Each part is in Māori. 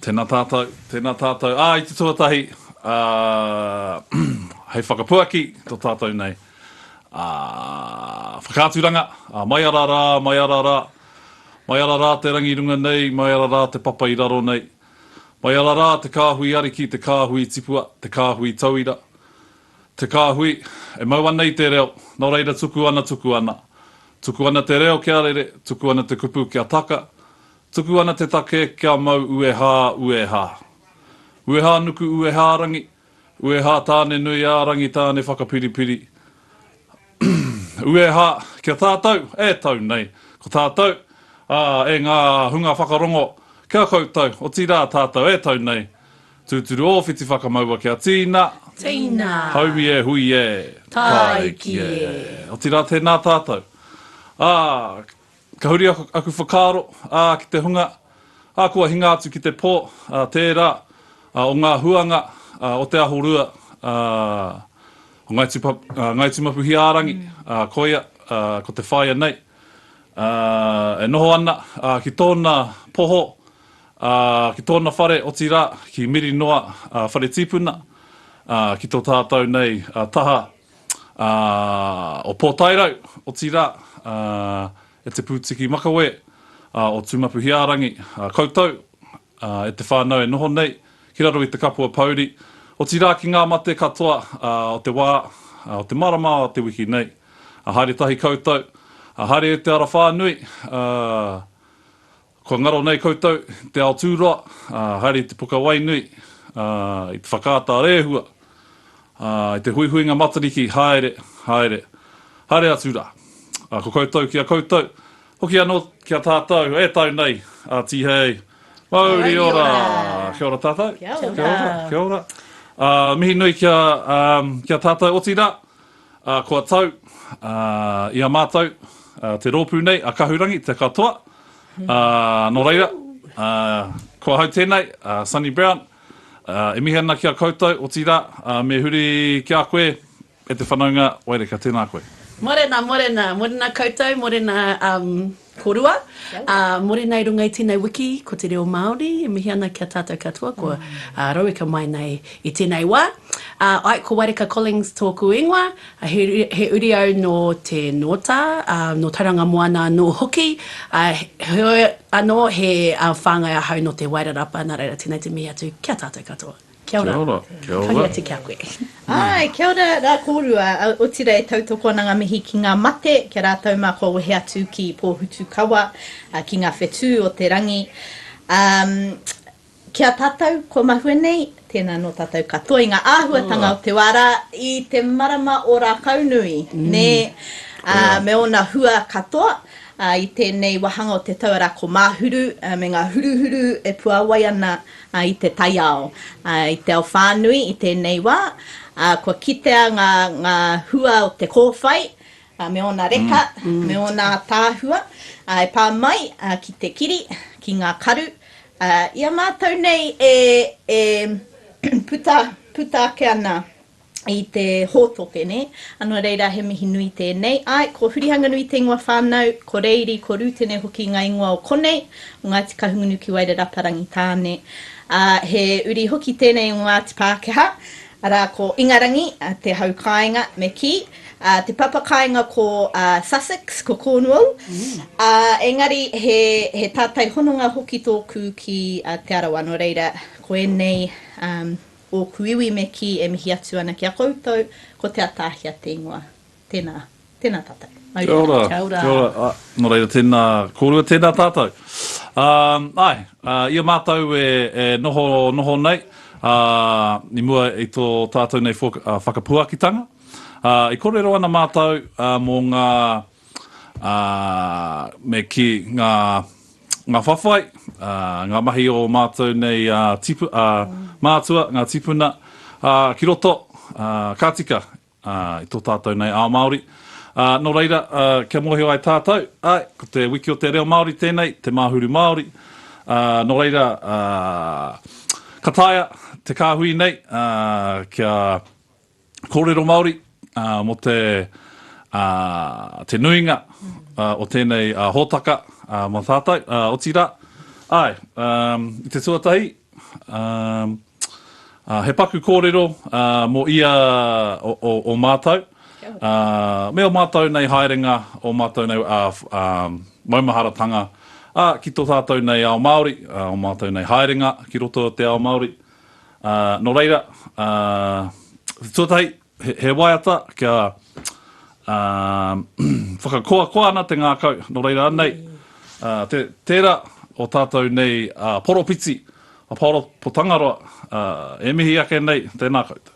Tēnā tātou, tēnā tātou. Ā, i te tuatahi, ā, hei whakapuaki tō tātou nei, ā, whakaaturanga, ā, mai ara rā, mai ara rā, mai ara rā te rangi runga nei, mai ara rā te papa i raro nei, Mai ara rā te kāhui ariki, te kāhui tipua, te kāhui tauira, te kāhui, e mau ana i te reo, nō reira tuku ana, tuku ana. Tuku ana te reo kia rere, tuku ana te kupu kia taka, tuku ana te take kia mau uehā, uehā. Uehā nuku uehā rangi, Ueha, Tāne-nui-ā-rangi Tāne-whakapiripiri Ueha, Kia tātou, e tau nei, ko tātou, ā, e ngā hunga whakarongo, kia koutou, otirā, tātou, e tau nei, tūturu ōwhiti whakamaua kia tīna, Tīna. haumi e hui e, Tāiki e. Otirā, tēnā tātou, ā, Ka huri aku whakaaro, ā, ki te hunga, ā, kua hinga atu ki te pō, ā, tērā, ā, o ngā huanga, ā, o te aho rua, ā, o Ngāi Tupa, ā, Ngāi Tūmapuhiārangi, ā, koia, ā, ko te whaea nei, ā, e noho ana, ā, ki tōna poho, ā, ki tōna whare, otirā, ki Mirinoa, ā, whare tīpuna, ā, ki tō tātou nei, ā, taha, ā, o Pōtairau, otirā, ā, e Te Pūtiki Makawe, ā, o Tūmapuhiārangi, ā, koutou, ā, e te whānau e noho nei ki raro i te kapua pouri, otirā ki ngā mate katoa, ā, o te wā, ā, o te marama o te wiki nei. Ā, haere tahi koutou, ā, haere e te arawhānui, ā, Kua ngaro nei koutou, te ao tūroa, ā, haere i te puka wai nui, ā, i te whakaata rēhua, ā, i te huihuinga Matariki, haere, haere, haere atu rā. Ā, ko koutou ki a koutou, hoki anō ki a tātou, e tau nei, ā, tīhei, mauri ora! Kia ora tātou. Kia ora. Kia ora. Ā, mihi nui ki a, ā, ki a tātou, otirā, Ā, kua tau, ā, i a mātou, ā, te rōpū nei, a Kahurangi, te katoa, ā, nō reira, ā, ko ahau tēnei, a Sonny Brown, ā, e mihi ana ki a koutou, otirā, ā, me huri ki a koe, e te whanaunga Waireka, tēnā koe. Morena, morena, morena koutou, morena, um, Korua, ā, more nei runga i tēnei wiki, ko te reo Māori e mihi ana ki a tātou katoa, ko Roweka mai nei i tēnei wā. Ā, ae, ko Waireka Collings tōku ingoa, he, he uri au nō Te Nōtā, ā, nō Tauranga Moana anō hoki, ā, heoi anō, he whāngai ahau nō Te Wairarapa, nā reira, tēnei te mihi atu ki a tātou katoa. Kia ora. Kia ora. Kia ora. Koia te kia koe. Ae, kia ora ra korua, otira e tautoko ana nga mihi ki nga mate, ki a ratou ma kua wehe atu ki Pohutukawa, ki nga whetu o te rangi. Um, ki a tatou kua mahue nei, tena no tatou katoa i nga ahuatanga o te wa ra i te marama o Rakaunui, ne, a me ona hua katoa, a i tenei wahanga o te tau ara ko Mahuru, me nga huruhuru e puawai ana, a. i te taiao, i te ao whānui i tēnei wā, kua kitea ngā hua o te kōwhai me ōna reka, me ōna ataahua e pā mai ki te kiri, ki ngā karu. I a mātou nei e puta ake ana. i te hōtoke, nē. Anō reira, he mihi nui tēnei. Āe, ko Hurihanganui te ingoa whānau, ko Reiri, ko Rūtene hoki ngā ingoa o konei, o Ngāti Kahungunu ki Wairarapa Rangitāne. Ā, he uri hoki tēnei o Ngāti Pākehā, arā, ko Ingarangi, te hau kāinga, me kī, ā, te papa kāinga ko Sussex, ko Cornwall. Ā, engari, he, he tātai hononga hoki tōku ki Te Arawa, nō reira, ko ēnei, ā, Ōku iwi me kī e mihi atu ana ki a koutou, ko Te Ataahia te ingoa. Tēnā. Tēnā tātou. Mauri nui. Kia ora. Kia ora. Ā, nō reira, tēnā kōrua, tēnā tātou. Ā, āe, ā, i a mātou e, e noho, noho nei, ā, i mua i tō tātou nei whaka, whakapuakitanga, ā, i kōrero ana mātou, ā, mō ngā. ā, me kī, ngā, ngā whawhai, ā, ngā mahi o ō mātou nei, ā, tipu, ā, mātua, ngā tīpuna, ā, ki roto, ā, ka tika, ā, i tō tātou nei ao Māori. Ā, nō reira, ā, kia mōhio ai tātou, āe, ko te Wiki o te Reo Māori tēnei, te Māhuru Māori, ā, nō reira, ā, ka taea te kāhui nei, ā, kia. Kōrero Māori mō te te nuinga o tēnei hōtaka mō tātou, otirā, āe, i te tuatahi, he paku kōrero mō ia o mātou, me ō mātou nei haerenga, ō mātou nei maumaharatanga ki tō tātou nei ao Māori, ō mātou nei haerenga ki roto o te ao Māori, Ā, nō reira, ā, tuatahi, he, he waiata kia, ā, whakakoakoa ana te ngākau, nō reira anei, ā, te, tērā o tātou nei ā, poropiti, a Paolo Potangaroa, ā, e mihi ake nei, tēnā koutou.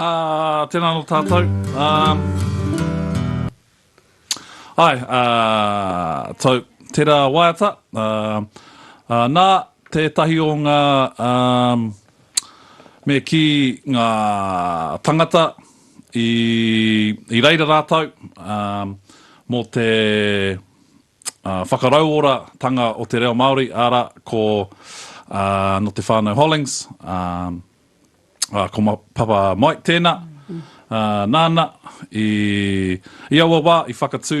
Ā, tēnā anō tātou. Ā, Ai, ā, tau, tērā waiata, ā, ā, nā, tētahi o ngā, ā, me kī ngā tangata i, i reira rātou, ā, mō te, whakarauoratanga o te reo Māori, arā, ko nō te whānau Hollings, ko Papa Mike tēnā, nāna i aua wā i whakatū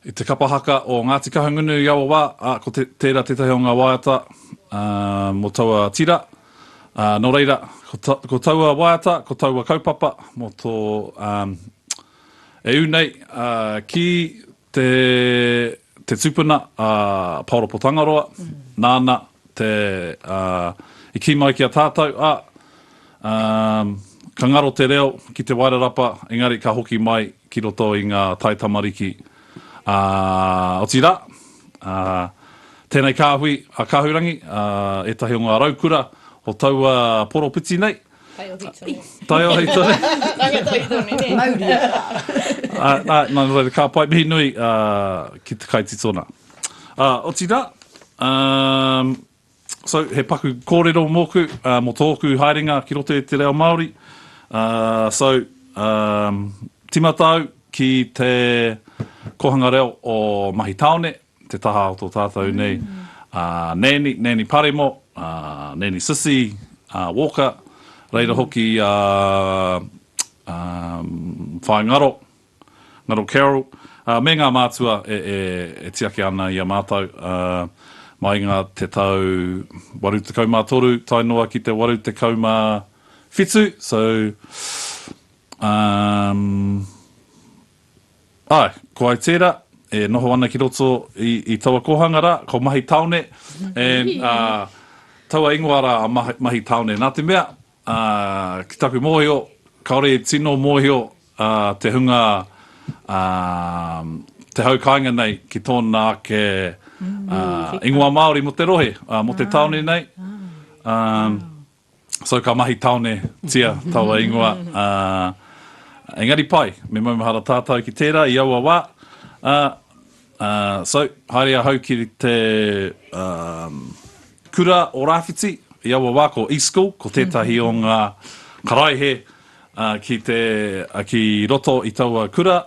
i te kapa haka o Ngāti Kahungunu i aua wā, ā, ko tērā tētahi o ngā waiata mō taua tira, nō reira, ko taua waiata, ko taua kaupapa mō tō. E ū nei, ā, ki te, te tupuna a Paoropo Tangaroa, nāna te, ā, i kī mai ki a tātou, ā, ā, ka ngaro te reo ki Te Wairarapa, engari ka hoki mai ki roto i ngā taitamariki, ā, otirā, ā, tēnei kāhui a Kahurangi, ā, ētahi o ngā raukura o taua poropiti nei, Taiohi tonu. Taiohi tonu. Ranga taiohi tonu, ne? Mauria. Ā, ā, nā reira, ka pai mihi nui ā, ki te kaititona. Ā, otirā, um, so, he paku kōrero mōku, ā, mō tōku haerenga ki roto i te reo Māori. Ā, so, um, timata au ki te kōhanga reo o Mahi Tāone, te taha o to tatou nei a Nani, Nani Paremo, a Nani Sisi, a Walker, reira hoki a Whae Ngaro, Ngaro Carol, me nga mātua e tiaki ana i a matou mai i nga te tau 83 tae noa ki te 87, so umm. Āe, ko au tērā, e noho ana ki roto i taua kōhanga rā, ko Mahi Taone, and, taua ingoa rā a Mahi Taone, nā te mea, ki taku mōhio, kāore e tino mōhio te hunga, te hau kāinga nei ki tōna ake ingoa Māori mō te rohe, mō te tāone nei, So ka mahi taone tia taua ingoa, ā, engari pai, me maumahara tātau ki tērā i aua wā, ā, ā, so, haere ahau ki te, ā, kura o Rāwhiti, i aua wā ko E-School, ko tētahi o ngā karaehe, ā, ki te, ki roto i taua kura,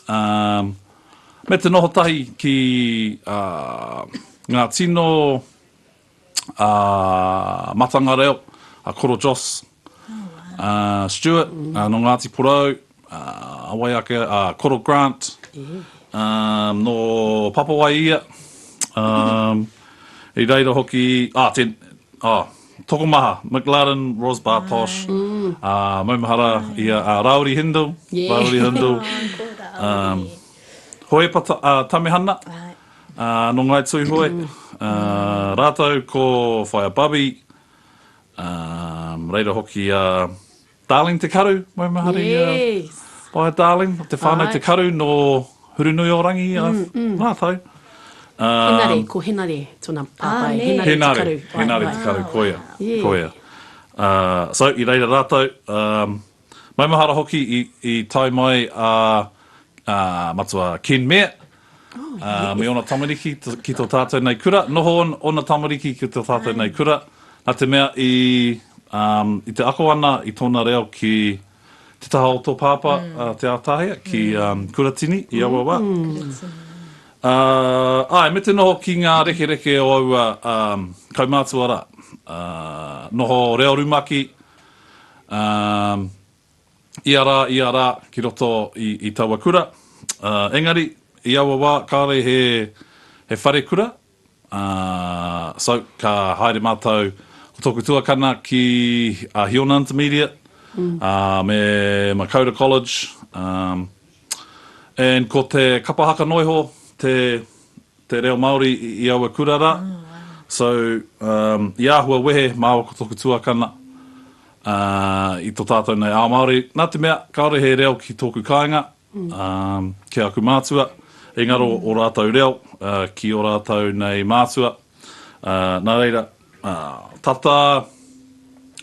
ā, me te noho tahi ki, ā, ngā tino, a Matanga Reo, a Koro Joss, a Stuart, no Ngati Porou, a wai ake, a Koro Grant, no Papawai ia, i reira hoki, a tena, tokomaha, McLaren, Ros Bar Posh, a maumahara ia a Rauri Hindle, Rauri Hindle, Hoepa Tamehana, Ā, nō Ngāi Tūhoe, ā, rātou ko Whaea Babi, ā, reira hoki a Darling Te Karu, Maumahari a Yes. Whaea Darling, o te whānau Āe. Te Karu nō Hurunui-o-Rangi a rātou. Ā, Henare, ko Henare tōna pāpā e, nē. Henare Te Henare, Karu. Āe, Henare āe. Te Karu, koia, Yeah. koia. Ā, so, i reira rātou, ā, Maumahara hoki i tae mai a Matua Ken Mair me ōna tamariki ki tō tātou nei kura. Noho ōna tamariki ki tō tātou nei kura, nā te mea i te ako ana i tōna reo ki te taha o tō pāpā Te Ātahea, ki Kuratini i aua wā. Āe, me te noho ki ngā rekereke o aua kaumātua rā. Noho reo rumaki, Ā, ia rā, ia rā, ki roto i, i taua kura. Ā, engari, i aua wā, kāore he, he wharekura. Ā, so, ka haere mātou, ko tōku tuakana ki, ā, Hiona Intermediate, ā, me Makoura College, ā, and ko te kapa haka noiho te, te reo Māori i aua kura rā so i āhua wehe māua ko tōku tuakana i tō tātou nei ao Māori nā te mea kāore he reo ki tōku kāinga ki aku mātua i ngaro o rātou reo ki o rātou nei mātua nā reira tata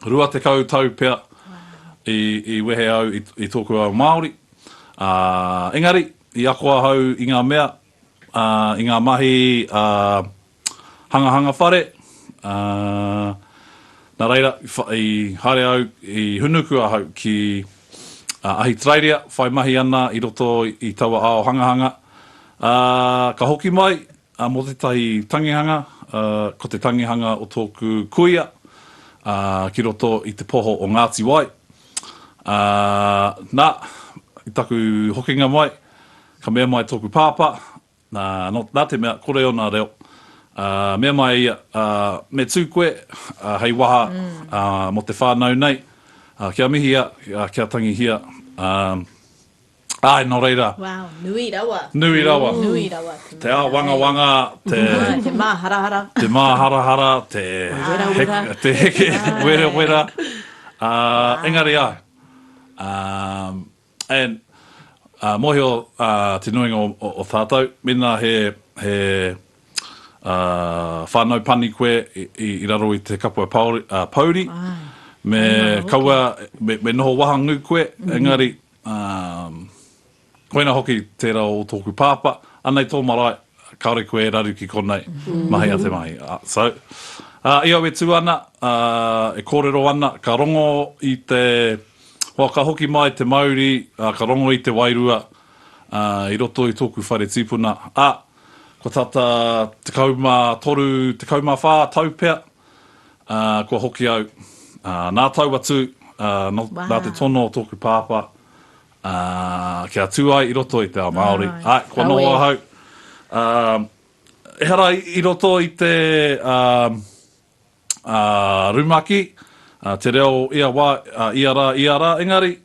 20 tau pea i wehe au i tōku ao Māori engari i ako ahau i ngā mea i ngā mahi hangahanga whare, nā reira i haere au, i hunuku ahau ki Ahitereiria whai mahi ana i roto i taua ao hangahanga, ā, ka hoki mai mō tētahi tangihanga, ko te tangihanga o tōku kuia ki roto i te poho o Ngāti Wai, ā, nā, i taku hokinga mai, Ka mea mai tōku pāpā, nā, nā te mea, kore ōna reo, ā, mea mai ia, ā, me tū koe, ā, hei waha, ā, mō te whānau nei, ā, kia mihia, ā, kia tangihia, ā, āe, nō reira. Wow, nui rawa. Nui rawa. Nui rawa te mea. Te āwangawanga, te. Āe, te māharahara. Te māharahara, te. Te werawera. Te heke, werawera, ā, engari āe, ā, And uh, mohio uh, te nuinga o, o, o tātou, mena he, he uh, whānau pani koe i, i, i raro i te kapua pauri, uh, pouri, Ai, me kaua, me, me noho wahangu koe, mm -hmm. engari, um, koina hoki tērā o tōku pāpa, anei tō marae, kāore koe e raru ki konei, mm -hmm. mahi a te mahi. Uh, so, uh, i au e tū ana, uh, e kōrero ana, ka rongo i te, Hoa ka hoki mai te mauri, ka rongo i te wairua i roto i tōku whare tīpuna, ā, kua tata tekau mā toru, tekau mā whā tau pea kua hoki au. Nā tau atu, nā te tono o tōku pāpā kia tū ai i roto i te ao Māori, āe, kua noho ahau, ehara i roto i te rumaki, te reo ia wā, ia rā, ia rā, engari,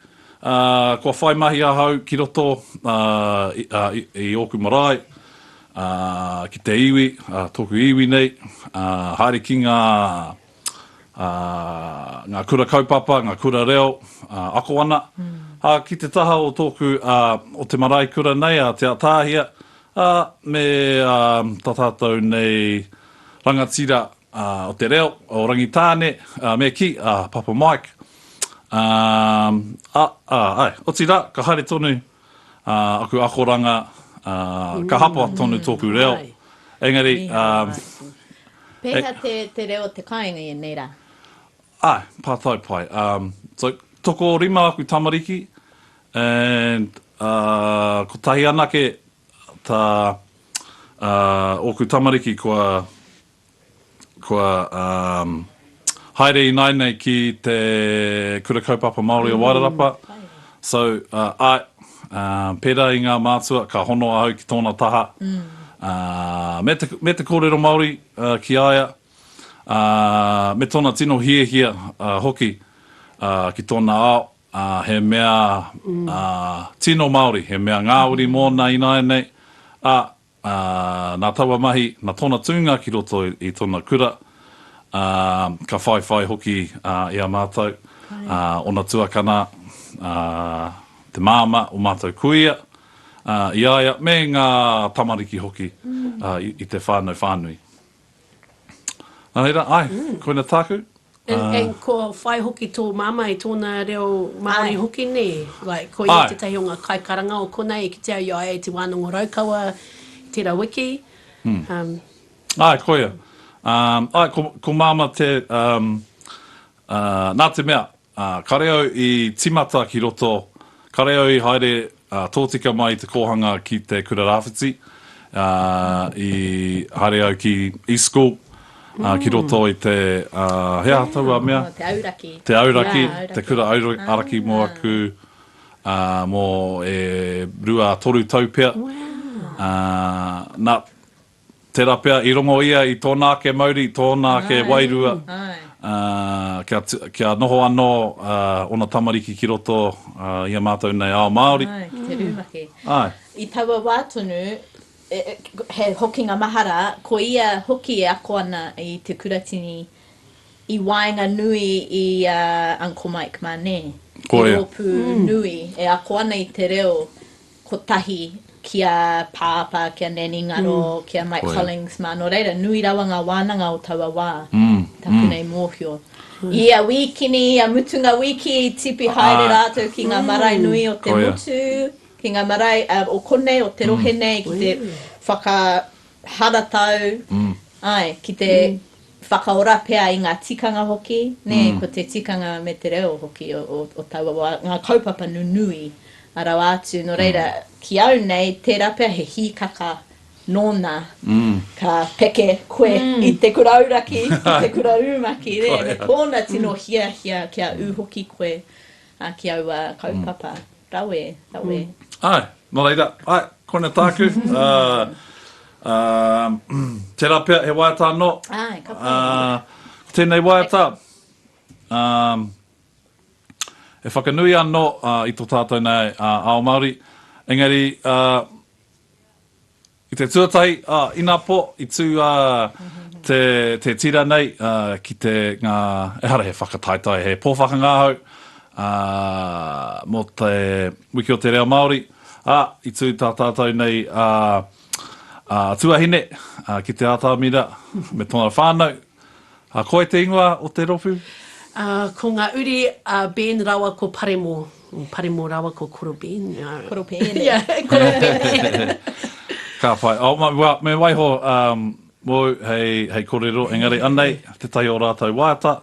kua whai mahi ahau ki roto i ōku marae, ki te iwi, tōku iwi nei, haere ki ngā kura kaupapa, ngā kura reo, ako ana, ā, ki te taha o tōku, o te marae kura nei, Te Atahia, ā, me tā tātou nei, Rangatira o te reo o Rangitāne, me kī, a Papa Mike. Ā, āe, otirā, ka haere tonu aku akoranga, ka hapa tonu tōku reo, engari. Pēhea te reo o te kāinga i ēnei rā? Āe, pā tau pai. So, tokorima aku tamariki, and kotahi anake Tā ōku tamariki kua kua haere ināinei ki te Kura Kaupapa Māori o Wairarapa, so āe, pērā i ngā mātua, ka hono ahau ki tōna taha me te me te kōrero Māori ki a ia, me tōna tino hiahia hoki ki tōna ao. ā, he mea, ā, tino Māori, he mea ngāwari mōna ināianei, ā, ā, nā taua mahi, nā tōna tūnga ki roto i tōna kura, ā, ka whaiwhai hoki, ā, i a mātou, ā, ōna tuakana, ā, te māmā, ō mātou kuia, ā, i a ia, me ngā tamariki hoki, ā, i te whānau whānui. Nā reira, āe, koina tāku. And, and kua whai hoki tō māmā i tōna reo Māori hoki, nē? Like, ko ia tētahi o ngā kaikaranga o konei e kitea ai, ai, te wānanga Raukawa, tērā wiki. Um. Āe, koia. Um, āe, ko, ko māmā te, um, uh, nā te mea, Ā, kare au i timata ki roto, kare au i haere, ā, tōtika mai te kōhanga ki te kura rāwhiti, ā, i haere au ki East School, ā, ki roto i te, ā, he aha taua mea? Ā, te auraki. Te auraki, te kura auraki mō aku, ā, mō e rua, toru tau pea. Ā, nā, Tērā pea, i rongo ia i tōna ake mauri, tōna ake wairua, kia noho anō ōna tamariki ki roto i a mātou nei ao Māori. Āe, ki te rumaki. Āe. I taua wā tonu, he hokinga mahara, ko ia hoki e ako ana i te kuratini i waenganui i a Uncle Mike mā, nē? Ko ia. He rōpū nui e ako ana i te reo kotahi ki a Pāpā, ki a Nanny Ngaro, ki a Mike Collings mā, nō reira, nui rawa ngā wānanga o taua wā, taku nei mōhio. I ia wīkini, ia mutunga wiki, i tipi haere rātou ki ngā marae nui o te motu, ki ngā marae o konei, o te rohe nei, ki te whakaharatau, āe, ki te. whakaora pea i ngā tikanga hoki, nē, ko te tikanga me te reo hoki o taua wā, ngā kaupapa nunui rawa atu. Nō reira, ki au nei, tērā pea he hīkaka nōna ka peke koe i te kura auraki, i te kura rumaki, nē, me tōna tino hiahia kia ū hoki koe ā, ki aua kaupapa rawe, rawe. Āe, nō reira, āe, koina tāku, ā, ā, tērā pea he waiata anō. Āe, ka pai. Ā, ko tēnei waiata, ā, e whakanui anō i tō tātou nei ao Māori, engari, ā, I te tuatahi, ina po, i tu te tira nei ki te nga, ehara he whakataetae, he po whakangahau mo te Wiki o te Reo Maori, a, i tu ta tatou nei a tuahine ki te Atamira me tona whanau, A koe te ingoa o te ropu? A, ko nga uri a Ben rawa ko Paremo. Paremo rawa ko Koro Ben. Koro Pene. Ia, Koro Pene. Ka pai. Oh, me waiho mou hei korero, engari anei te tai o ratou waiata.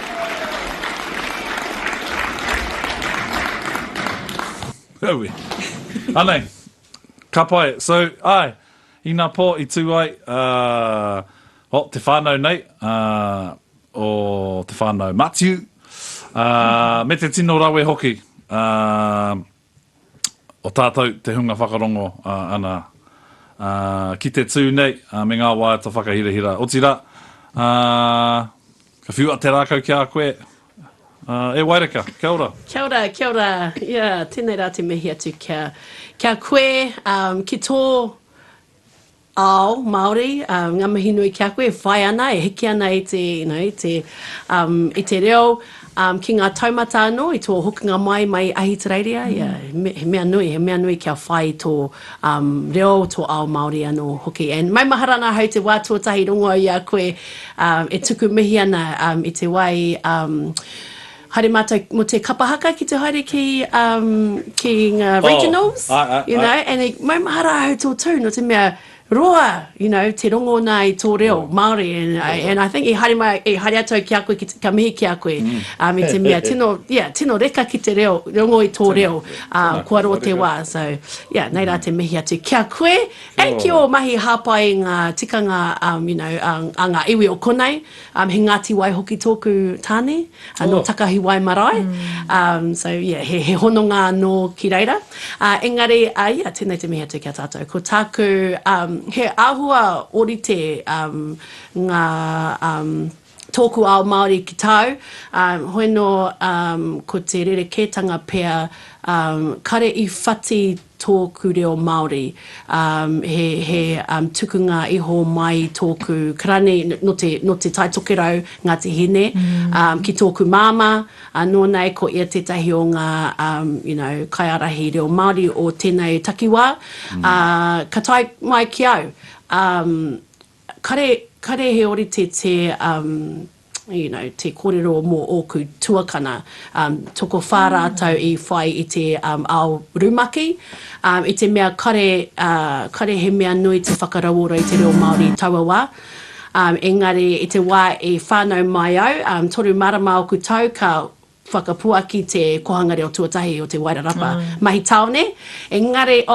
Aue. Anei. Ka pai. So, ae, i nga po i tu ai, uh, oh, te whanau nei, uh, o te whanau Matiu, uh, me te tino rawe hoki, uh, o tātou te hunga whakarongo ana ki te tū nei me ngā waiata whakahirahira. Otirā, ka whiua te rākau ki a koe e Waireka. Kia ora. Kia ora, kia ora. Ia, tēnei rā te mihi atu kia koe ki tō Ao, Māori, ngā mihi nui ki a koe e whai ana, e hiki ana i te, you know, i te, um, i te reo, um, ki ngā taumata anō, i tō hokinga mai, mai i Ahitereiria, ia, he me, he mea nui, he mea nui kia whai i tō, um, reo, tō ao Māori anō hoki. And maumahara ana ahau te wā tuatahi rongo au i a koe, um, e tuku mihi ana, um, i te wai, um, Haere matou mo te kapa haka ki te haere ki um ki nga regionals oh, I, I, you know I, and it mai mahara ahau to tu no te mea roa you know te rongo na i to reo oh. Maori and, oh. and I think i haere mai i haere atu ki a koe ki ka mihi ki a koe mm. um, i te mea tino yeah tino reka ki te reo rongo i to reo uh, ko aro te wa so yeah nei ra te mm. mihi atu ki a koe and ki o mahi hapai nga tikanga um you know ang, anga iwi o konei Um he Ngati Wai hoki tōku tāne, uh, nō Takahi Wai marae. Um so yeah, he, he hononga anō ki reira. Uh, engari, uh, yeah, tēnei te mihi atu ki a tātou. Ko tāku, um, he āhua orite um, ngā um, tōku ao Māori ki tāu. Um, hoi nō, um, ko te rerekētanga pea, um, kare i whati tōku reo Māori, he, he tukunga iho mai i tōku karani, no te, no Te Tai Tokerau, Ngāti Hine, ki tōku māmā, ā, nō nei ko ia tētahi o ngā, you know, kaiārahi reo Māori o tēnei takiwā, ā, ka tae mai ki au, ā, kare, kare he orite te, you know, te korero mo oku tuakana, um, tokowha ratou i whai i te, um, ao rumaki, um, i te mea kare, uh, kare he mea nui te whakarauora i te reo Maori i taua wa. Um, engari i te wa e whanau mai au, um, toru marama oku tau, ka Whakapuaki te Kohanga Reo Tuatahi o Te Wairarapa mahi tāone, engari,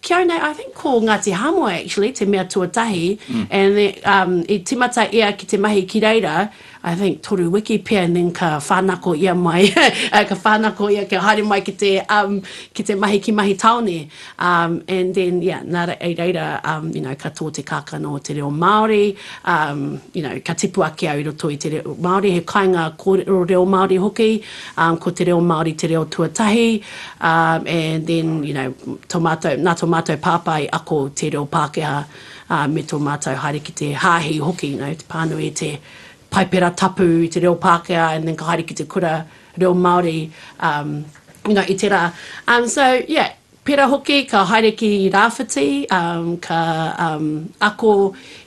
kia au nei, I think ko Ngāti Hāmoe actually te mea tuatahi, and then i tīmata ia ki te mahi ki reira, I think toru wiki pea and then ka whānako ia mai, ka whānako ia kia haere mai ki te mahi ki mahi tāone. Um, and then, yeah, nā re, i reira, um, you know, ka tō te kākano o te reo Māori, um, you know, ka tipu ake au i roto i te reo Māori, he kainga kōrero reo Māori hoki, um, ko te reo Māori te reo tuatahi, um, and then, you know, tō mātou, nā tō mātou pāpā i ako te reo Pākehā, um, me tō mātou haere ki te hāhi hoki, you know, te pānui i te Paipera Tapu i te reo Pākehā, and then ka haere ki te kura, reo Māori nga i te rā so yeah pera hoki ka haere ki rāwhiti ka ako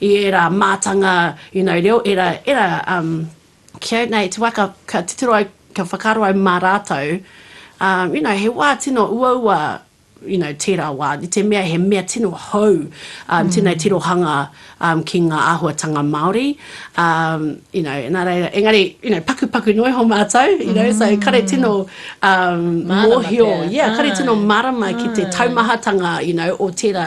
i ērā mātanga you know reo ērā ērā kei nei te wā ka ka titiro au ka whakaaro au mā rātou you know he wā tino uaua you know, tērā wā, i te mea he mea tino hou, um, tēnei tirohanga um, ki ngā āhuatanga Māori, um, you know, nā reira, engari, you know, pakupaku noa iho mātou, you know, so kare tino um, Mārama mōhio, pea. yeah, kare tino mārama ki te taumahatanga, you know, o tērā,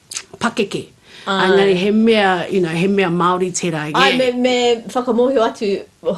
pakeke. Engari he mea, you know, he mea Māori tērā, yeah. Āe, me, me whakamōhio atu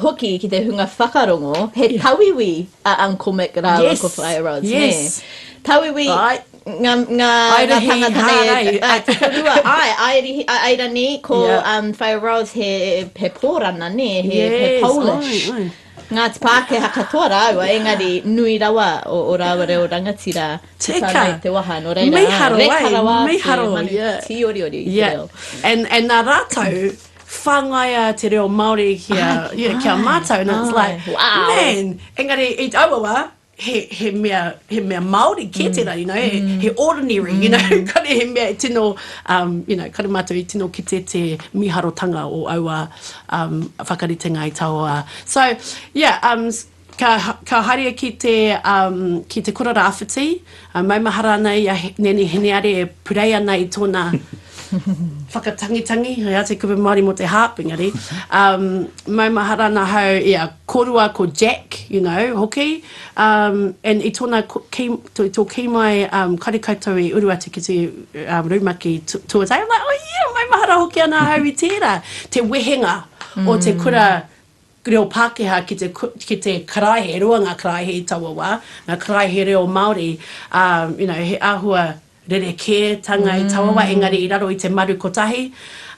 hoki ki te hunga whakarongo, he tauiwi a Uncle Mick rāua ko Whaea Rhodes, nē? Yes, yes. Tauiwi, ngā, ngā, ngā tāngata nei e. Aerahi, hārai. Te whenua, āe, aerihi, aerani, ko, Whaea Rhodes he, he Pōrana, nē, he, he Polish. Yes, āe, āe. Ngāti Pākehā katoa rāua, engari nui rawa o rāua reo rangatira ki whānau te waha, nō reira, reka rawa ake manu tīoriori i te reo. Yeah, and nā rātou whāngaia te reo Māori kia mātou, and it's like, man, engari i aua wā, he, he mea, he mea Māori kē tērā, you know, he, he ordinary, you know, kare he mea e tino, um, you know, kare mātou i tino kite te mīharotanga o aua um, whakaritenga i taua. So, yeah, um, ka, ka haria ki te, um, ki te kura rāwhiti, A maumahara ana i a Nene Hineare e purei ana i tona whakatangitangi, hei āta kupu Māori mo te harp, engari, um, maumahara ana hau i a korua ko Jack, you know, hoki, um, and i tona, ki, to, to ki mai, um, kare koutou i uru atu ki te um, rumaki tu, tuatai, I'm like, oh yeah, maumahara hoki ana hau i tēra, te wehenga mm. o te mm. kura, reo Pākehā ki te ki te karaehe, e rua ngā karaehe i taua wā, ngā karaehe reo Māori, ā, you know, he āhua rerekētanga i taua wā, engari i raro i te maru kotahi,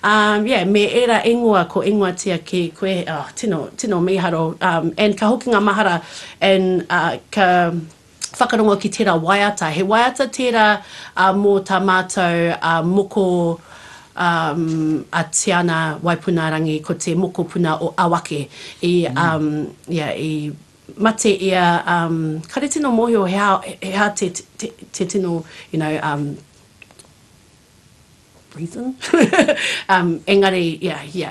ā, yeah, me ērā ingoa ko ingoatia ki koe, oh, tino, tino mīharo, ā, and ka hoki ngā mahara, and, ā, ka. whakarongo ki tērā waiata. He waiata tērā mō tā mātou moko a Tiana Waipunarangi, ko te mokopuna o Awake. I, ia, i mate ia, kare tino mōhio he aha te tino, you know, prison um engari ia ia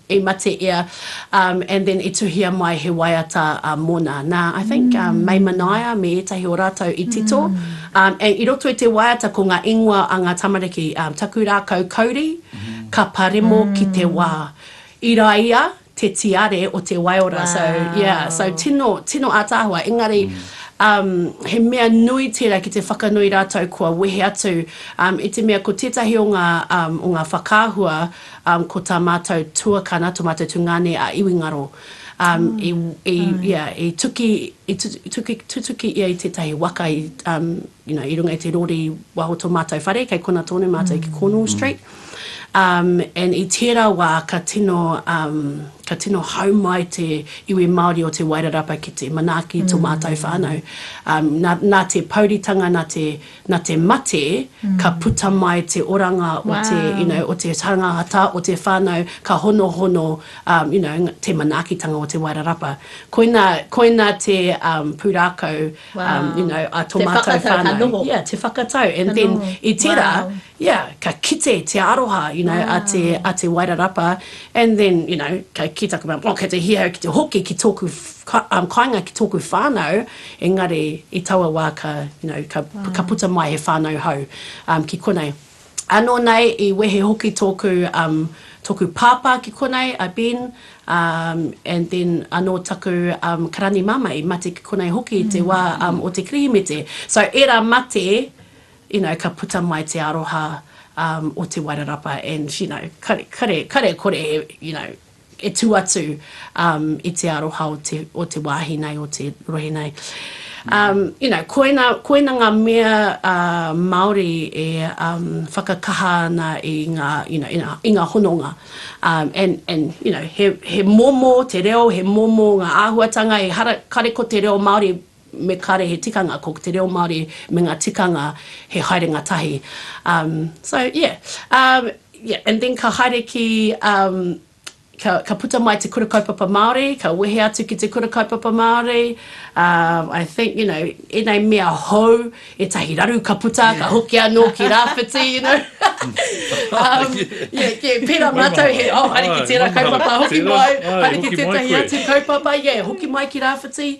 i mate ia um and then i tuhia mai he waiata um mona na I think um mei manaia me etahi o ratou i tito um and i roto i te waiata ko nga ingoa a nga tamariki um taku rakau kauri ka paremo ki te wa i raia te tiare o te waiora so yeah so tino tino ataahua engari um he mea nui tera ki te whakanui ratou kua wehe atu um i te mea ko tetahi o nga um o nga whakaahua um ko ta matou tuakana to matou tungane a iwi ngaro um i i yeah i tuki i tutuki ia i tetahi waka i um you know, i runga i te rori wa o to matou whare, kei kona tonu matou ki Cornwall Street, um, and i tera wa ka tino, um, ka tino hau mai te iwi Maori o Te Wairarapa ki te manaaki i to matou whanau. Um, na, na te pouritanga, na te, na te mate, ka puta mai te oranga o te, you Wow. know, o te tangahata, o te whanau, ka honohono, um, you know, te manaakitanga o Te Wairarapa. Koina, koina te, um, purākau, Wow. You know, a to te whakatau whanau. ka noho. Yeah, te whakatau. And ka then noho. i tera, wow. yeah, ka kite te aroha, you know, wow. a te a te wairarapa. And then, you know, ka ki taku mea, oh, kei te hia, ki te hoki ki tōku um, kainga ki tōku whānau, engari i taua wā ka, you know, ka, wow. ka puta mai he whānau hau um, ki konei. Ano nei i wehe hoki toku um toku papa ki konei a Ben um and then ano taku um karani mama i mate ki konei hoki i te wa um o te Kirihimete so era mate you know ka puta mai te aroha um o te Wairarapa and you know kare kare kore you know e tū atu um, i te aroha o te, o te wāhi nei, o te rohe nei. Mm. Um, you know, koina, koina ngā mea uh, Māori e um, whakakaha ana i ngā, you know, i ngā, i ngā hononga. Um, and, and, you know, he, he momo te reo, he momo ngā āhuatanga, e hara, kare ko te reo Māori me kare he tikanga ko te reo Māori me nga tikanga he haerenga tahi um so yeah um yeah and then ka haere ki um ka ka puta mai te kura kaupapa Māori ka wehe atu ki te kura kaupapa Māori um I think you know enei mea hou etahi raru ka puta ka hoki ano ki Rawhiti you know um yeah yeah pera matou he oh haere ki tera kaupapa hoki mai haere ki tetahi atu kaupapa yeah hoki mai ki Rawhiti.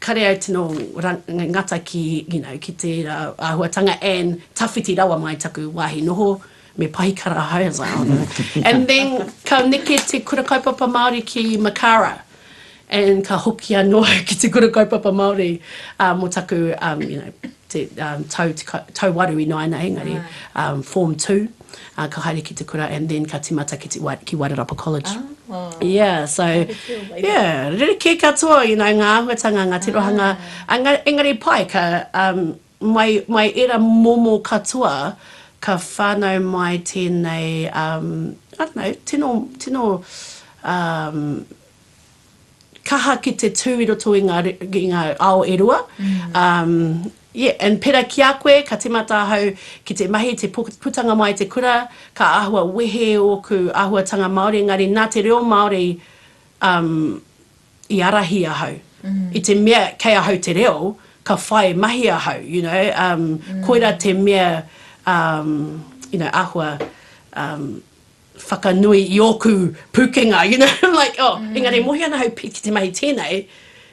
kare au tino ngata ki you know ki tera ahuatanga and tawhiti rawa mai taku wahi noho me pahikara hai as I honour and then ka neke te kura kaupapa Maori ki Makara and ka hoki ano au ki te kura kaupapa Maori um mo taku um you know te um tau waru inoa ana engari um form two. ā, ka haere ki te kura and then ka tīmata ki te, ki Wairarapa College. Ā, Yeah, so, mahi kē o Wairarapa. Yeah, rerekē katoa, you know, ngā āhuatanga, ngā tirohanga, engari, engari pai, ka, um, mai, mai ērā momo katoa, ka whānau mai tēnei, um, I don't know, tino, tino, um, kaha ki te tū i roto i ngā, i ngā ao e rua. Um, yeah, and pera ki a koe, ka timata ahau ki te mahi, te pu- putanga mai te kura, ka āhua wehe ōku āhuatanga Māori, engari nā te reo Māori um, i arahi ahau. I te mea kei ahau te reo, ka whai mahi ahau, you know, um, koira te mea, um, you know, āhua um, whakanui i ōku pūkenga, you know, like, oh, engari e mohi ana hau pi ki te mahi tēnei,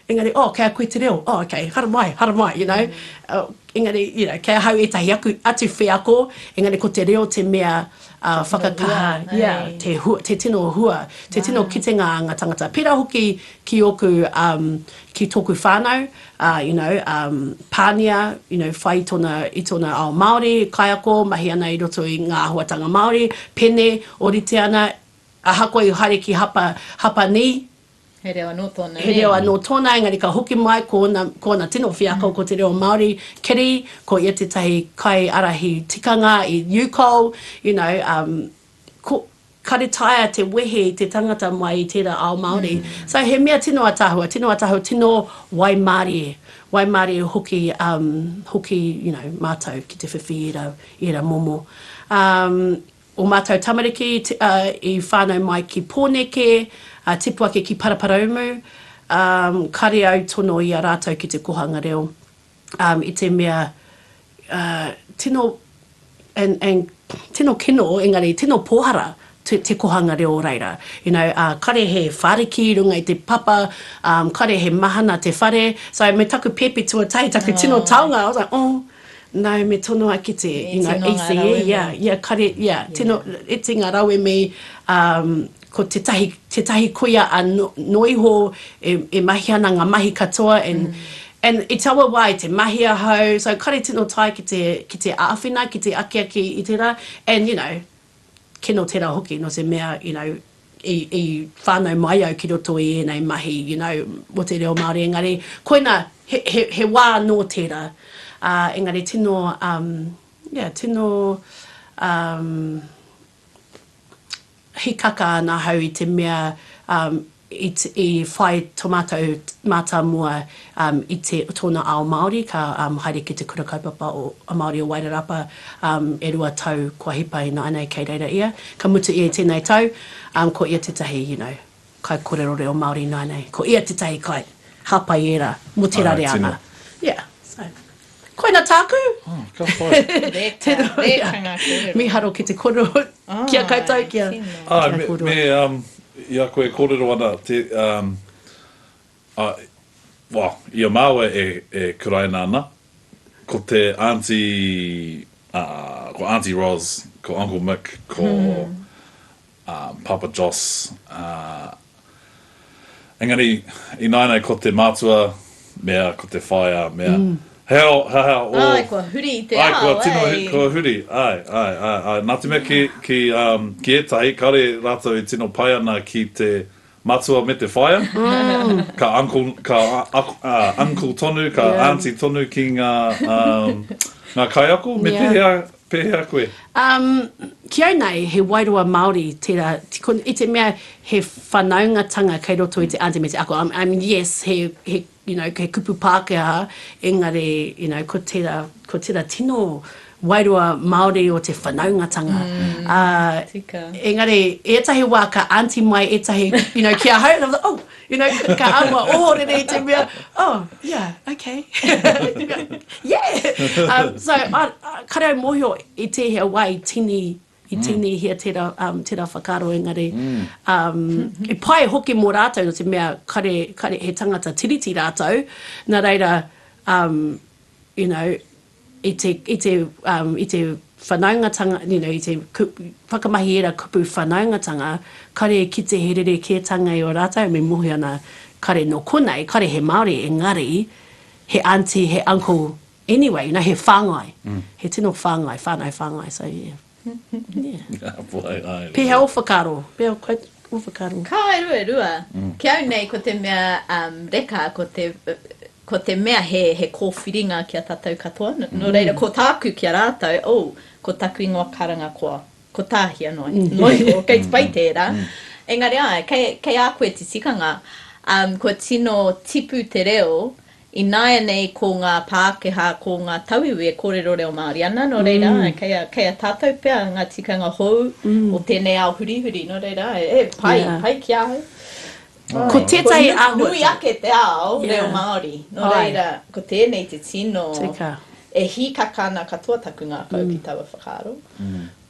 engari, oh, kei a koe te reo, oh, okay, haramai, haramai, you know, engari, you know, kei ahau ētahi aku, atu wheako, engari ko te reo te mea whakakaha, yeah, te hua, te tino hua, te tino kitenga a nga tangata, pērā hoki ki ōku, ki tōku whānau, a, you know, um, pānia, you know, whai tona, i tona ao Māori, kaiako, mahi ana i roto i ngā ahuatanga Māori, pene, orite ana, ahakoa i haere ki hapa, hapa ni, He reo anō tōna, nē? He reo anō tōna, engari ka hoki mai ko ōna, ko ōna tino wheako ko te reo Māori, kiri, ko ia tētahi kaiarahi tikanga i UCOL, you know, um, Ko, ka retire te wehe i te tangata mai i tera ao Maori. So he mea tino ataahua, tino ataahua, tino waimarie, waimarie hoki, um, hoki, you know, matou ki te whiwhi i era, i era momo. Um, o matou tamariki, ti, uh, i whanau mai ki Poneke, uh, tipu ake ki Paraparaumu, um, kare au tono i a ratou ki te kohanga reo. i te mea tino and tino kino engari tino pōhara te kohanga reo o reira. You know, kare he whariki i runga i te papa, kare he mahana te whare, so me taku pēpi tuatahi, taku tino taonga, I was like, oh, no, me tonoa ki te, you know, ECE, yeah, yeah, kare, yeah, tino, iti ngā rauemi, ko tetahi tetahi koia a no iho e e mahi ana nga mahi katoa and and i taua wa i te mahi ahau so kare tino tae ki te ki te aawhina ki te akiaki i tera and you know kino tera hoki no te mea you know i i whanau mai au ki roto i enei mahi you know mo te reo Maori engari koina he he he wa no tera a engari tino um yeah tino um hikaka ana ahau i te mea i whai to matou matamua i te tona ao Maori ka haere ki te Kura Kaupapa Maori o Wairarapa e rua tau kua hipa ina anei kei reira ia ka mutu ia i tenei tau ko ia tetahi you know. Kaikorero reo Māori ināi nei, ko ia tētahi kai, hāpai ērā, mō tērā reanga. Yeah, so. Koina tāku! Ka pai. Tēnā ia. Miharo ki te koro, ki a koutou, ki a koroua. Me, i a koe e kōrero ana, well, i a māua e kuraina ana, ko te Aunty, ko Aunty Ros, ko Uncle Mick, ko a Papa Jos, ā, engari ināianei ko te mātua mea ko te whaea mea, he aha, he aha o. Āe, kua huri i te ao, āe. Āe, kua tino, kua huri, āe, āe, āe, āe. Nā te mea ki, ki, ā, ki ētahi, kāore rātou e tino pai ana ki te Matua me te whaea, ka uncle, ka uncle tonu, ka aunty tonu ki nga nga kaiako, me pehea, pehea koe? Um, ki au nei, he wairua Maori tera, i te mea he whanaungatanga kei roto i te aunty me te ako, um, um, yes, he, he You know, kei kupu Pākehā, engari, you know, ko tērā, ko tērā tino wairua Māori o te whanaungatanga. Ā, engari, ētahi wā ka aunty mai ētahi, you know, ki ahau, and I was like, oh! You know, ka āhua ohorere i te mea, oh, yeah, okay. Yeah! So, I, I, kare au mōhio i tēhea wā i tīni I tīnihia tērā, um, tērā whakaaro engari, um, he pai hoki mō rātou no te mea kare, kare, he tangata Tiriti rātou, na reira, um, you know, i te, i te, um, i te whanaungatanga, you know, i te whakamahi ērā kupu whanaungatanga, kare e kite he rerekētanga i o rātou, me mohi ana kare no konei, kare he Māori, engari, he aunty, he uncle, Anyway, you know, he whangai. He tino whangai, whanau whangai, so yeah. Yeah. Pehea o whakaro? Pehea koe o whakaro? Ka waru e rua. Ki au nei ko te mea reka, ko te, ko te mea he, he kōwhiringa ki a tātou katoa. Nō reira, ko tāku ki a rātou, oh, ko taku ingoa karanga koa, ko Tāhia noa iho, kei te pai tērā. Engari āe, kei, kei a koe te tikanga, kua tino tipu te reo Ināianei ko ngā Pākehā, ko ngā tauiwi e kōrero reo Māori ana, nō reira, kei a, kei a tātou pea ngā tikanga hou o tēnei ao hurihuri, nō reira, e, pai, pai ki ahau. Ko tētahi āhuatanga. Kua nui ake te ao reo Māori, nō reira, ko tēnei te tino, e hīkaka ana katoa taku ngākau ki taua whakaaro,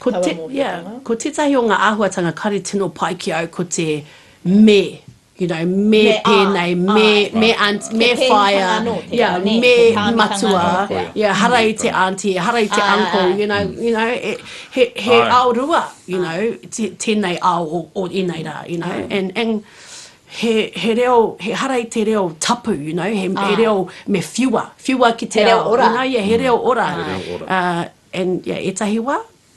taua mōhiotanga. Ko tētahi o ngā āhuatanga kāre tino pai ki au ko te me. you know, me pēnei, me, me aunt, me whaea, yeah, me matua, yeah, hara i te aunty, hara i te uncle, you know, you know, he, he ao rua, you know, tēnei ao o, o ēnei rā, you know, and, and, he, he reo, he hara i te reo tapu, you know, he, he reo me whiua, whiua ki te ao, you know, yeah, he reo ora. He reo ora. Uh, and, yeah, ētahi wā,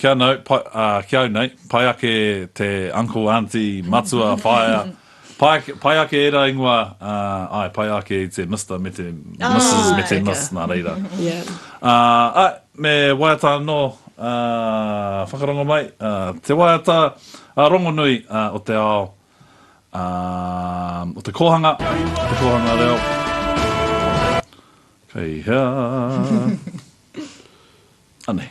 Kia nau, pai, ā, ki au nei, pai ake te uncle, aunty, matua, whaea, pai ake, pai ake ērā ingoa, ā, āe, pai ake i te Mister me te Mrs me te Āe, Miss, nā reira. Yeah. Ā, āe, me waiata anō, ā, whakarongo mai, ā, te waiata, ā, rongonui, ā, o te ao, ā, o te kōhanga, o te kōhanga reo. Kei hea? Anei.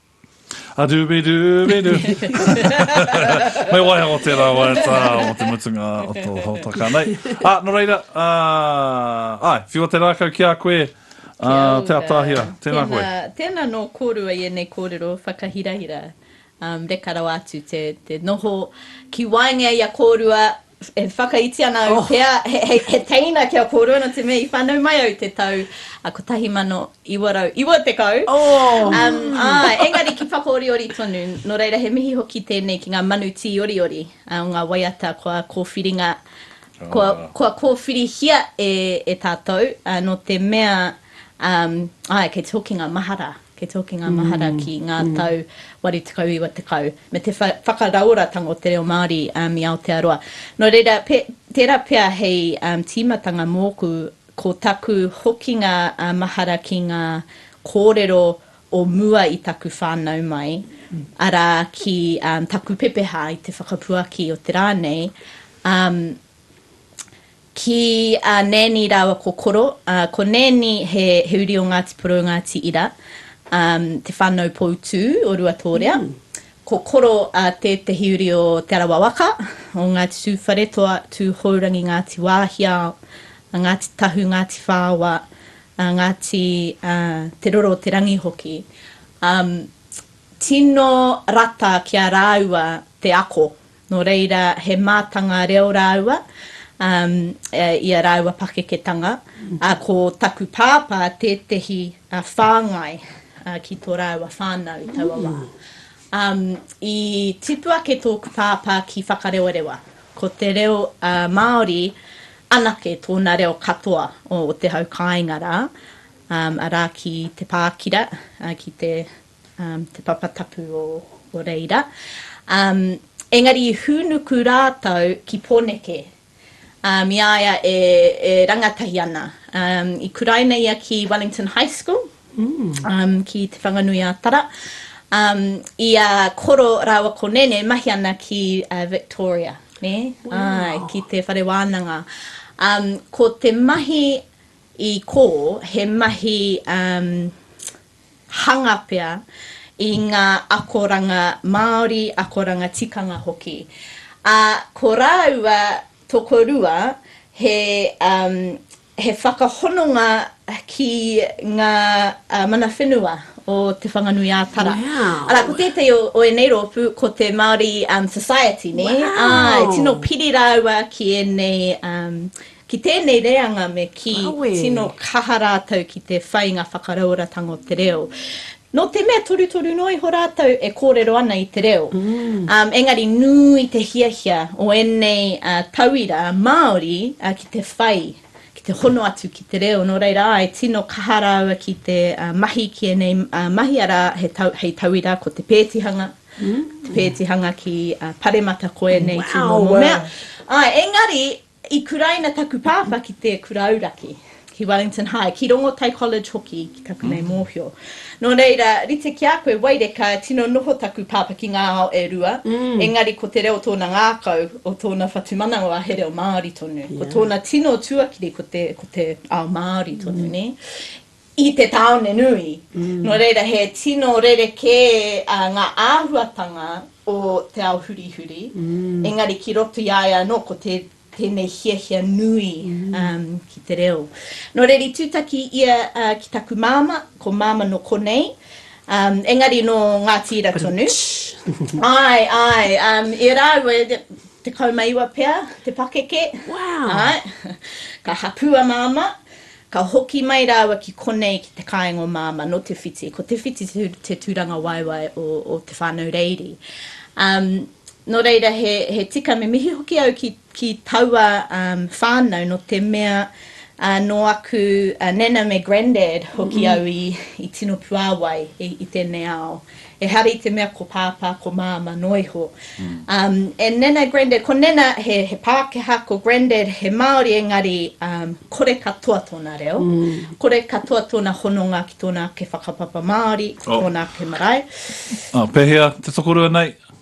A dooby dooby doo. Me waiho tērā waiata o te mutunga o tō hōtaka nei. Ā, nō reira, ā, ai, whiua te rākau ki a koe, ā, Te Atahira. Tēnā koe. Tēnā, tēnā nō kōrua i ēnei kōrero whakahirahira. Um, reka rawa atu te, te noho ki waenga i a kōrua, E whakaiti ana au pea he teina kia kōrua nō te mea i whānau mai au i te tau 1990. Āe, engari ki whakaoriori tonu, nō reira he mihi hoki tēnei ki ngā manu tīoriori o ngā waiata kua kōwhiringa, kua kōwhirihia e tātou, nō te mea Āe, kei te hoki ngā mahara, kei te hoki ngā mahara ki ngā tau 80, 90, me te whakarauoratanga o te reo Māori i Aotearoa. Nō reira, tērā pea hei tīmatanga mōku, ko taku hokinga mahara ki ngā kōrero o mua i taku whānau mai, arā, ki taku pepeha i te whakapuaki o te rā nei, Ki a Nanny rāua ko Koro. Ko Nanny he uri o Ngāti Porou, Ngāti Ira, te whānau poutū o Ruatōrea. Ko Koro tētehi uri o Te Arawa waka, o Ngāti Tūwharetoa, Tūhourangi, Ngāti Wāhiao, Ngāti Tahu, Ngāti Whāoa, Ngāti Te Roro Te Rangi hoki. Tino rata ki a rāua te ako Nō reira, he mātanga reo rāua i a rāua pakeketanga, ā, ko taku pāpā tētehi whāngai ki tō rāua whānau i taua wā. I tipu ake tōku pāpā ki Whakarewarewa, ko te reo Māori anake tōna reo katoa o te hau kāinga rā, arā ki te Pākira, ki te. te papa tapu o reira, engari i hūnuku rātou ki Poneke, i a ia e rangatahi ana. I kuraina ia ki Wellington High School, ki Te Whanganui-a-Tara. I a Koro rāua ko Nene mahi ana ki Victoria, nē? Āe, ki te whare wānanga. Ko te mahi i kō, he mahi... hanga pea i ngā akoranga Māori, akoranga tikanga hoki. Ā, ko rāua tokorua he, um, he whakahononga ki ngā mana whenua o Te Whanganui-ā-Tara. Wow. Arā, ko tētahi o, o ēnei rōpū, ko te Māori um, Society, nē? Wow. Āe, tino piri rāua ki ēnei um, Ki tēnei reanga me kī, tino kaha rātou ki te whai ngā whakarauoratanga o te reo. Nō te mea torutoru noa iho rātou e kōrero ana i te reo. Engari nui te hiahia o ēnei tauira Māori ki te whai, ki te hono atu ki te reo. Nō reira, āe, tino kaha rāua ki te mahi ki ēnei mahi, arā, hei tauira ko te pētihanga, te pētihanga ki Paremata ko ēnei tū momo mea. Āe, engari, I kuraina taku pāpā ki te kura auraki, ki Wellington High, ki Rongotai College hoki ki taku nei mōhio. Nō reira, rite ki a koe, Waireka, tino noho taku pāpā ki ngā ao e rua, engari ko te reo tōna ngākau, o tōna whatumanawa he reo Māori tonu. Ko tōna tino tuakiri ko te, ko te ao Māori tonu, nē. i te tāone nui. Nō reira, he tino rerekē ngā āhuatanga o te ao hurihuri, engari ki roto i a ia anō ko tēnei hiahia nui ki te reo. Nō reira, i tūtaki ia ki taku māmā, ko Māmā nō konei, engari nō Ngāti Ira tonu. Āe, āe, e rāua, tekau ma iwa pea te pakeke, āe, ka hapū a Māmā, Ka hoki mai rāua ki konei ki te kāinga o Māmā nō Te Whiti. Ko Te Whiti te tūrangawaewae o Te Whānau Reiri. Nō reira, he tika me mihi hoki au ki taua whānau nō te mea nō aku nana me grandad hoki au i tino puāwai i tēnei ao. Ehara i te mea ko Pāpā, ko Māmā noa iho. Um, and Nana, Grandad, ko Nana he, he Pākehā, ko Grandad he Māori, engari um, kore katoa tōna reo, kore katoa tōna hononga ki tōna ake whakapapa Māori, ki Oh. tōna ake marae. Ah, pēhea te tokorua nei?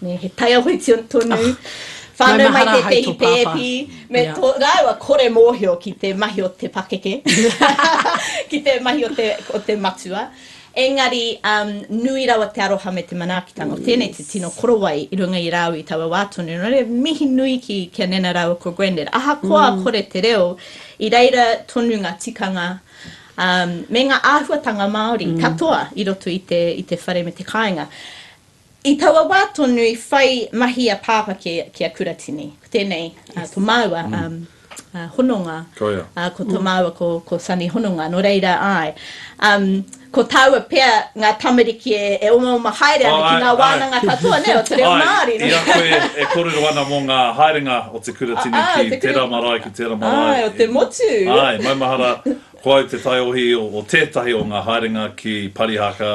Me he taiaho tonu whānau mai tētehi pēpi me tō rāua kore mōhio ki te mahi o te pakeke, ki te mahi o te matua. Engari, nui rawa te aroha me te manaakitanga o tēnei te tino korowai i runga i rāua i taua wā tonu. Nō reira, mihi nui ki a Nana rāua ko Grandad. Ahakoa kore te reo, i reira tonu ngā tikanga me ngā āhuatanga Māori katoa i roto i te whare me te kāinga. I taua wā tonu i whai mahi a Pāpā ki a Kuratini. Ko tēnei ko māua hononga. Ko ia. Ko tō māua ko Sonny Hononga. Nō reira, āe, ko tāua pea ngā tamariki e omaoma haere ana ki ngā wānanga katoa, nē, o te reo Māori. Āe, i a koe e kōrero ana mō ngā haerenga o te Kuratini ki tērā marae, ki tērā marae. Āe, o te motu. Āe, maumahara, ko au te taiohi o tētahi o ngā haerenga ki Parihaka,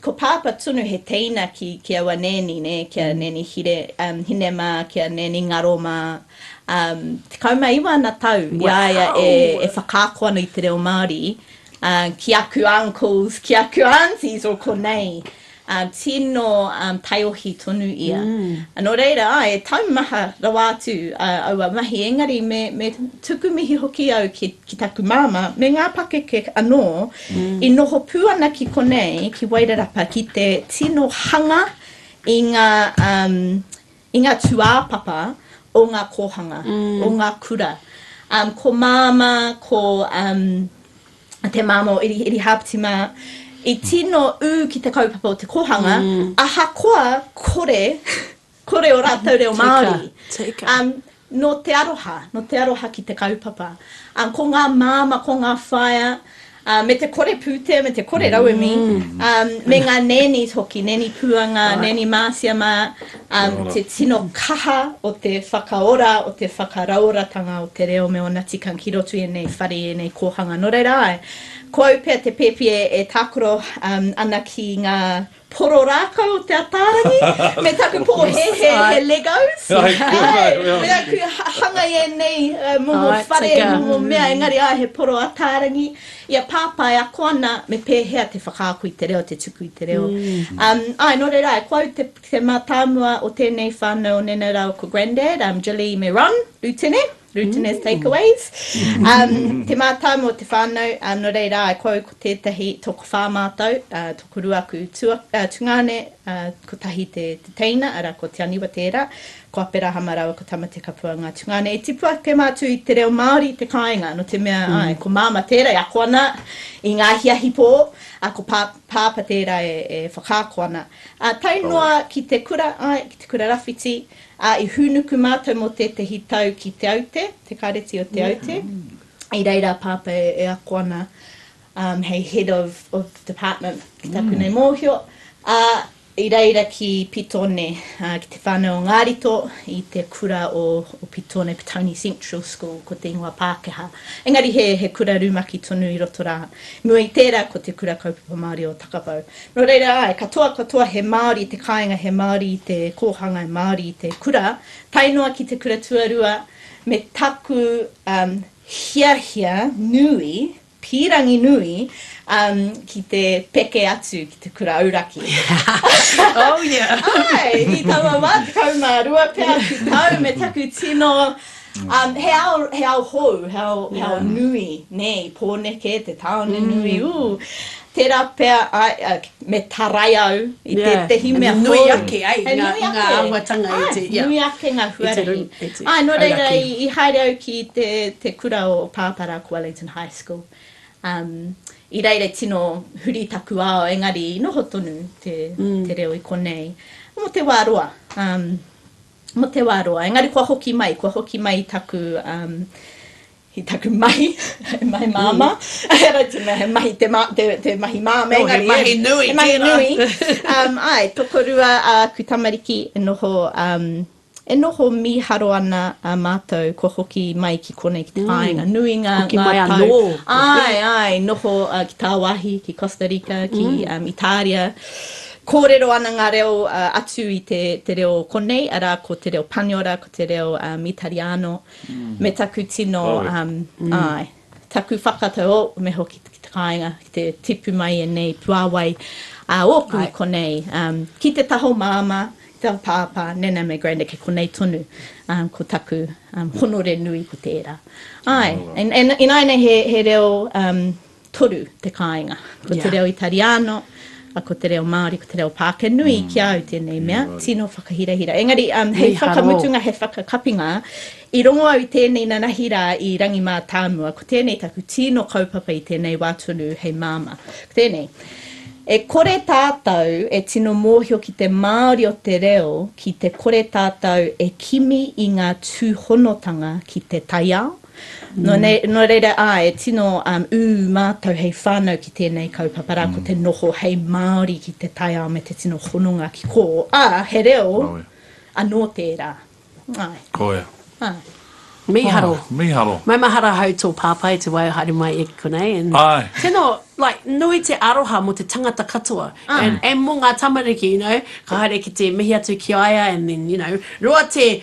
Ko Pāpā tonu he teina ki, ki aua nēni, nē, ki a Nēni Hire, um, Hine mā, ki a Nēni Ngaro mā. Um, tekau mā iwa ana tau i a ia e, e whakaako ana i te reo Māori, uh, ki aku uncles, ki aku aunties o konei. Uh, tino um, taiohi tonu ia. Mm. Nō reira, ai, e taumaha rawa atu uh, aua mahi, engari me, me tuku mihi hoki au ki, ki taku māmā, me ngā pakeke anō, I noho pū ana ki konei, ki Wairarapa, ki te tino hanga i ngā, um, i ngā tūāpapa o ngā kōhanga, o ngā kura. Um, ko Māmā, ko um, te Māmā o Iri, Iri Hāpiti mā, i tino ū ki te kaupapa o te kōhanga, ahakoa kore Kore o ratou reo Maori. Um, no te aroha, no te aroha ki te kaupapa. Um, ko nga mama, ko nga whaea, Uh, me te kore pūtea, me te kore mm. rauemi, um, me ngā nēni hoki, nēni pūanga, right. nēni māsia mā, um, te tino kaha o te whakaora, o te whakarauoratanga o te reo me ona tikang ki rotu e nei whare, e nei kōhanga. Nō reira ai, ko au pea te pēpi e, e tākoro um, ana ki ngā Poro rākau o Te Ataarangi me taku pōhēhē he Legos. Me aku hanga i ēnei momo whare, momo mea, engari āe he poro Ataarangi. I a Pāpā e ako ana me pēhea te whakaako i te reo, te tuku i te reo. Āe, nō reira, ko au te mātāmua o tēnei whānau o Nene Rau ko Grandad, Jilly me Ron, Rutene. Glutinous takeaways. Te mātau mō te whānau, nō reira, e kōu ko tētahi tokowhā mātau, tokorua aku tungāne, kotahi te teina, arā, ko Te Aniwa tērā, ko Aperahama rāua ko Tamatekapua ngā tungāne. I tipu ake mātou i te reo Māori i te kāinga, nō te mea, āe, ko Māma tērā e ako ana i ngā hiahipō, ā, ko Pāpā tērā e whakaako ana. Tae noa ki te kura, āe, ki te kura rawhiti, Ā, i hūnuku mātou mō tētehi tau ki Te Aute, te Kāreti o Te Aute, i reira a Pāpā e ako ana hei Head of of Department ki taku nei mōhio, ā, i reira ki Pitone, ki te whānau o Ngārito, i te kura o o Pitone, Petone Central School, ko te ingoa Pākehā. Engari he he kura rumaki tonu i roto rā. I mua i tērā ko te Kura Kaupapa Māori o Takapau. Nō reira, āe, katoa, katoa he Māori te kāinga, he Māori te kōhanga, he Māori te kura, tae noa ki te kura tuarua, me taku hiahia nui, pīrangi nui, ki te peke atu ki te kura auraki. Oh, yeah! Āe, i taua wā, tekau mā rua pea atu tau, me taku tino, he ao, he ao hou, he ao, he ao nui, nē, i Pōneke, te tāone nui, ū. Tērā pea me tarai au i tētehi mea hou. He nui ake ngā āhuatanga i te. Āe, nui ake ngā huarahi. Āe, nō reira i haere au ki te kura o Pāpara ko Wellington High School. I reira i tino huri taku ao engari i noho tonu te reo i konei mō te wā roa. Mō te wā roa. Engari kua hoki mai, kua hoki mai i taku He taku mahi, he mahi māmā. He rau tonu, he mahi te, te, te mahi māmā. Oh, he mahi nui. He mahi nui. um, ai, tokorua a uh, ku tamariki e noho, um, e noho mīharo ana a mātou kua hoki mai ki konei ki te mm. whāinga. Mm. Nui ngā, hoki ngā mai tau. Anō, ai, ai, noho uh, ki Tāwāhi, ki Costa Rica, ki mm. um, Itāria. Kōrero ana ngā reo uh, atu i te, te reo konei, arā ko te reo Paniora, ko te reo um, Itariano. me taku tino, āe, taku whakatau, oh, me hoki ki te kāinga, ki te tipu mai ēnei puāwai ā ōku i konei, ki te taha o Māmā, ki te taha o Pāpā, Nana me Granda, kei konei tonu ko taku honore nui, ko tērā. Āe, ināianei he reo, toru te kāinga. Ko te reo Itariano, ko te reo Māori, ko te reo Pākehā. Nui ki a au tēnei mea, tino whakahirahira. Engari, hei whakamutunga, hei whakakapinga, i rongo au i tēnei nanahi rā i Rangimātāmua, ko tēnei taku tino kaupapa i tēnei wā tonu hei māmā. Ko tēnei, e kore tātou e tino mōhio ki te māori o te reo ki te kore tātou e kimi i ngā tūhonotanga ki te taiao, Nō reira, āe, tino ū mātou hei whānau ki tēnei kaupapa rā, ko te noho hei Māori ki te taiao me te tino hononga ki kō, ā, he reo anō tērā. Āe. Ko ia. Āe. Mīharo. Mīharo. Maumahara ahau tō pāpā i te wā e haere mai ia ki konei. Āe. Tino, like, nui te aroha mō te tangata katoa. Āe. And mō ngā tamariki, you know, ka haere ki te mihi atu ki a ia and then, you know, roa te,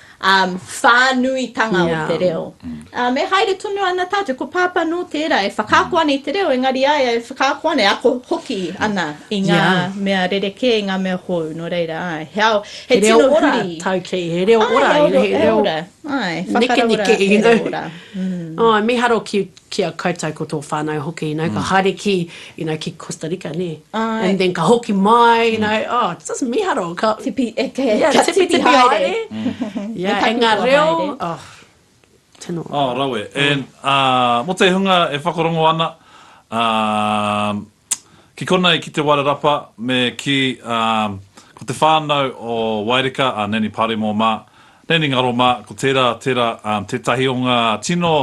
whānuitanga o te reo. E haere tonu ana tātou, ko Pāpā nō tērā e whakaako ana i te reo, engari a ia e whakaako ana, e ako hoki ana i ngā mea rerekē, i ngā mea hou, nō reira, āe. He ao, he tino huri. He reo ora, tau kē, he reo ora. He reo ora, āe, whakaraura, he reo ora. Mīharo ki a koutou ko tō whānau hoki, you know, ka haere ki, you know, ki Costa Rica, nē? Āe. And then ka hoki mai, you know, oh, it's just miharo, ka. Tipi, e te, ka tipi haere. Yeah, and ngā reo, oh, tino. Oh, rawe, and, ā, mō te hunga e whakarongo ana, ā, Ki konei ki Te Wairarapa me kī, ā, ko te whānau o Waireka, a Nanny Paremo mā, Nanny Ngaro mā, ko tērā, tērā, ā, tētahi o ngā tino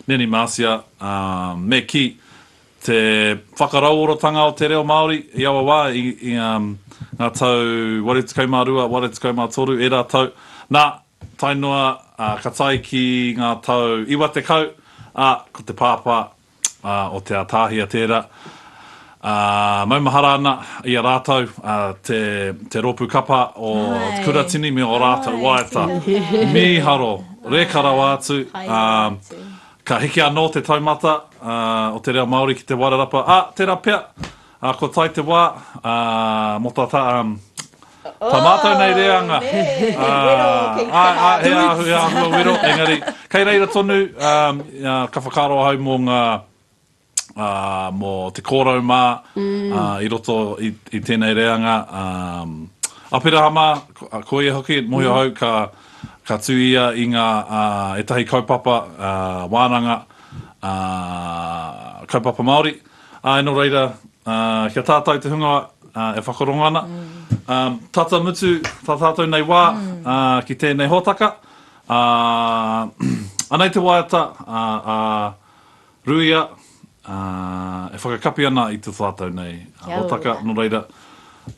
Nanny Marcia, ā, me kī, te whakarauoratanga o te reo Māori i aua wā, i, i, ā, ngā tau 82, 83, ērā tau, nā, tae noa, ā, ka tae ki ngā tau 90, ā, ko te pāpā, ā, o Te Atahia tērā, ā, maumahara ana i a rātou te, te rōpū kapa o te Kuratini me ō rātou waiata. Mīharo, reka rawa atu, ā, ka hiki anō te taumata, ā, o te reo Māori ki Te Wairarapa, ā, tērā pea, A ko tai te wa, a, mo ta ta, um, ta matou nei reanga, a, a, a, he ahu, he ahua wero, engari, kei reira tonu, um, a, ka whakaaro ahau mo nga, a, mo te korou ma, a, i roto i, i tenei reanga, um, Aperahama, ko ia hoki, mohio ahau, ka, ka tu ia i nga, a, etahi kaupapa, a, wananga, a, kaupapa Maori, Āe nō reira, kia tātau te hunga e whakarongo ana. Tata mutu tā tātau nei wā ki tēnei hōtaka. Anei te waiata a Ruia e whakakapi ana i tō tātau nei hōtaka, nō reira.